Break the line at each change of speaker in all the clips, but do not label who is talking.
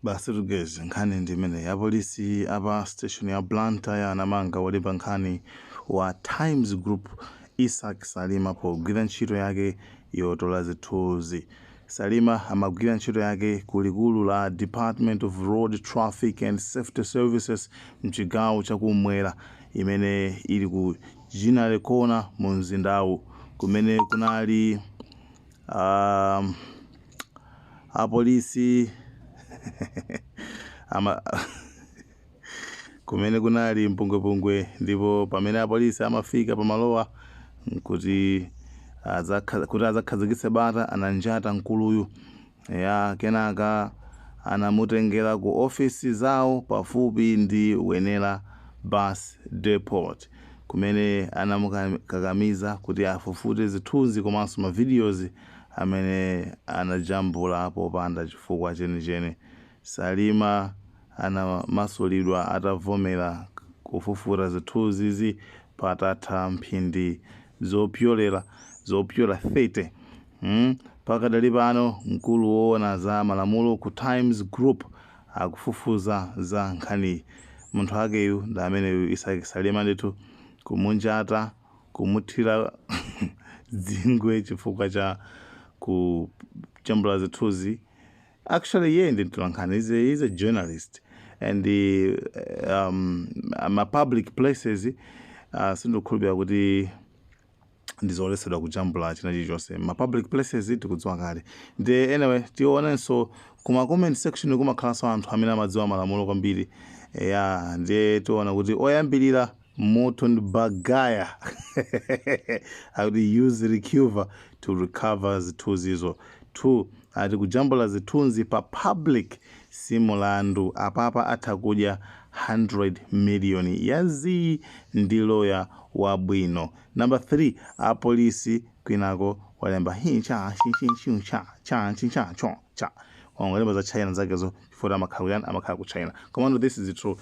basi tugeze nkhani ndi imeneyi apolisi apa station ya blantyre anamanga wolemba nkhani wa times group isaac salima pogwira ntchito yake yotola zithunzi salima amagwira ntchito yake ku likulu la department of road traffic and safety services mchigawo chakumwera imene ili ku Ginnery Corner mu mzindawu kumene kunali um, apolisi kumene kunali mpungwepungwe ndipo pamene apolisi amafika pamalowa kuti azakha- kuti azakhazikitse bata ananjata mkuluyu ya kenaka anamutengera ku ofisi zawo pafupi ndi Wenela bus depot kumene anamukakamiza kuti afufute zithunzi komanso ma videos amene anajambula popanda chifukwa chenicheni. Salima anamasulidwa atavomera kufufuta zithunzizi patatha mphindi zopyolera zopyola 30. Pakadali pano, mkulu woona za malamulo ku Times Group akufufuza za nkhaniyi. Munthu akeyu ndi ameneyu Isaac Salima ndithu, kumunjata. kumuthira dzingwe chifukwa cha kujambula zithunzi actually iye ndi mtolankhani he's a, he's a journalist and uh, um, ma public places uh, sindikukhulupirira kuti ndizoletsedwa kujambula china chilichonse ma public places tikudziwa kale ndi anyway tionenso kuma comment section kumakhalanso anthu amene amadziwa malamulo kwambiri ya ndiye tiona kuti oyambirira Morton Baghaya I would use Recuva to recover zithunzizo 2 ati kujambula zithunzi pa public si mulandu apapa atha kudya 100 million ya zii ndi lawyer wa bwino number 3 a police kwinako walemba hi cha chi chi chu cha cha chi cha cho cha wangolemba za china zakezo chifukwa amakhala kuyani amakhala ku china komano this is the truth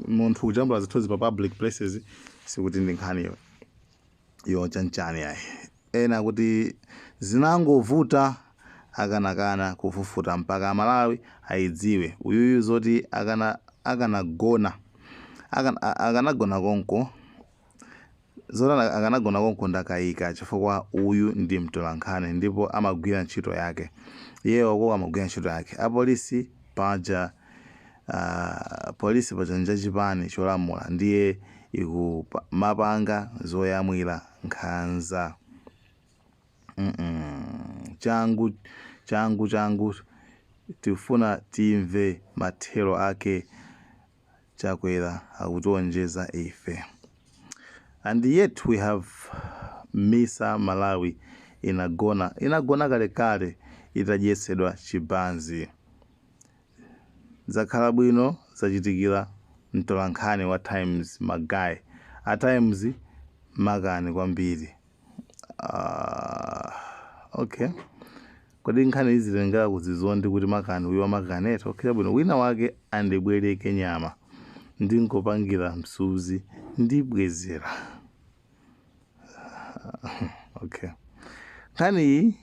munthu kujambula zithunzi pa public places sikuti ndi nkhani yo- yochanchani yayi ena kuti zinangovuta akanakana kufufuta mpaka amalawi ayidziwe uyuyu zoti akana akanagona akana- a- akanagona konko Zoti akanagona konko ndakaika chifukwa uyu ndi mtolankhani ndipo amagwira ntchito yake. Iyeyo uko amagwira ntchito yake. Apolisi paja aah police paja njachipani cholamula ndiye ikumapanga zoyamwira nkhanza mm changu changu changu tikufuna timve mathero ake. Chakwera akutionjeza ife and yet we have misa Malawi inagona inagona kalekale itadyetsedwa chibanzi. Zakhala bwino zachitikira mtolankhani wa times ma guy a times makani kwambiri. Ah, okay kodi nkhani ikuzitengera kuzizondi kuti makani uyo makani eti okay bwino wina wake andibwereke nyama ndingopangira msuzi ndibwezera okay nkhani iyi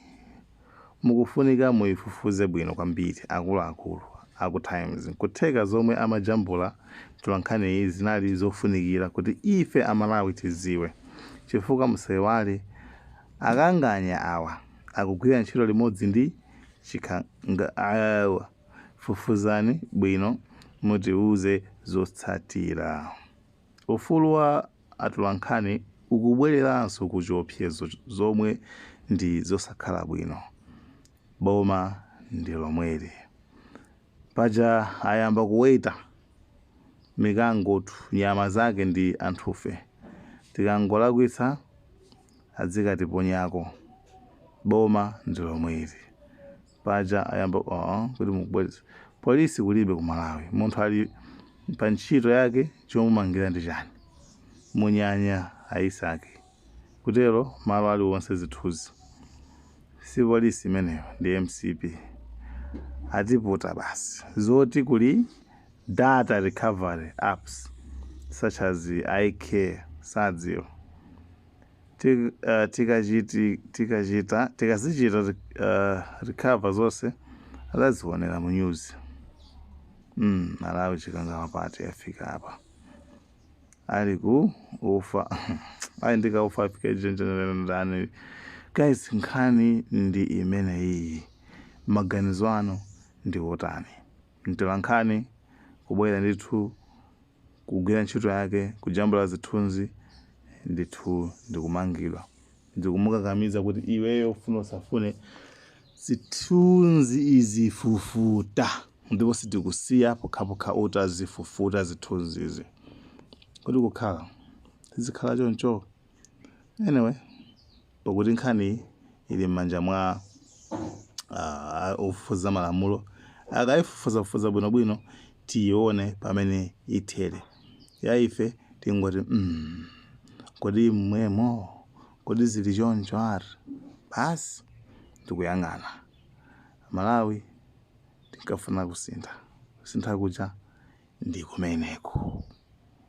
Mukufunika muyifufuze bwino kwambiri akuluakulu aku Times nkutheka zomwe amajambula mtolankhaniyi zinali zofunikira kuti ife a Malawi tiziwe chifukwa musayiwale akanganya awa akugwira ntchito limodzi ndi chikangawa fufuzani bwino mutiwuze zotsatira. Ufulu wa. atolankhani ukubwereranso ku chiopsezo zomwe ndi zosakhala bwino. Boma ndi lomweli. Paja ayamba kuweta mikangotu nyama zake ndi anthufe. Tikangolakwitsa adzikatiponyako. Boma ndi lomweli. paja ayamba aa kuti mukubweza police kulibe ku malawi munthu ali pa ntchito yake chomumangira ndi chani munyanya a Isake kutero malo aliwonse zithunzi si police imeneyo ndi mcp atiputa basi zoti kuli data recovery apps such as icare sadziwa tikachi tikachita tikazichita recover zonse adzazionera mu news mm, malawi chikangawa party yafika apa ali ku ufa ali ndika ufa afika ijenjenerendani guys nkhani ndi imene iyi maganizo anu ndi otani mtolankhani kubwera ndithu kugwira ntchito yake, kujambula zithunzi, ndithu ndikumangidwa. Ndikumukakamiza kuti iweyo ufune usafune zithunzi uzifufute, ndipo sitikusiya pokhapokha utazifufuta zithunzizi. Kodi kukhala zizikhala choncho? anyway pakuti nkhani ili m'manja mwa ah, ofufuza malamulo akayifufuzafufuza bwinobwino tiyione pamene ithere ya ife tingoti mm, kodi mmwemo kodi zili choncho ari basi ndikuyang'ana malawi tinkafuna kusintha kusintha kuja ndi kumeneko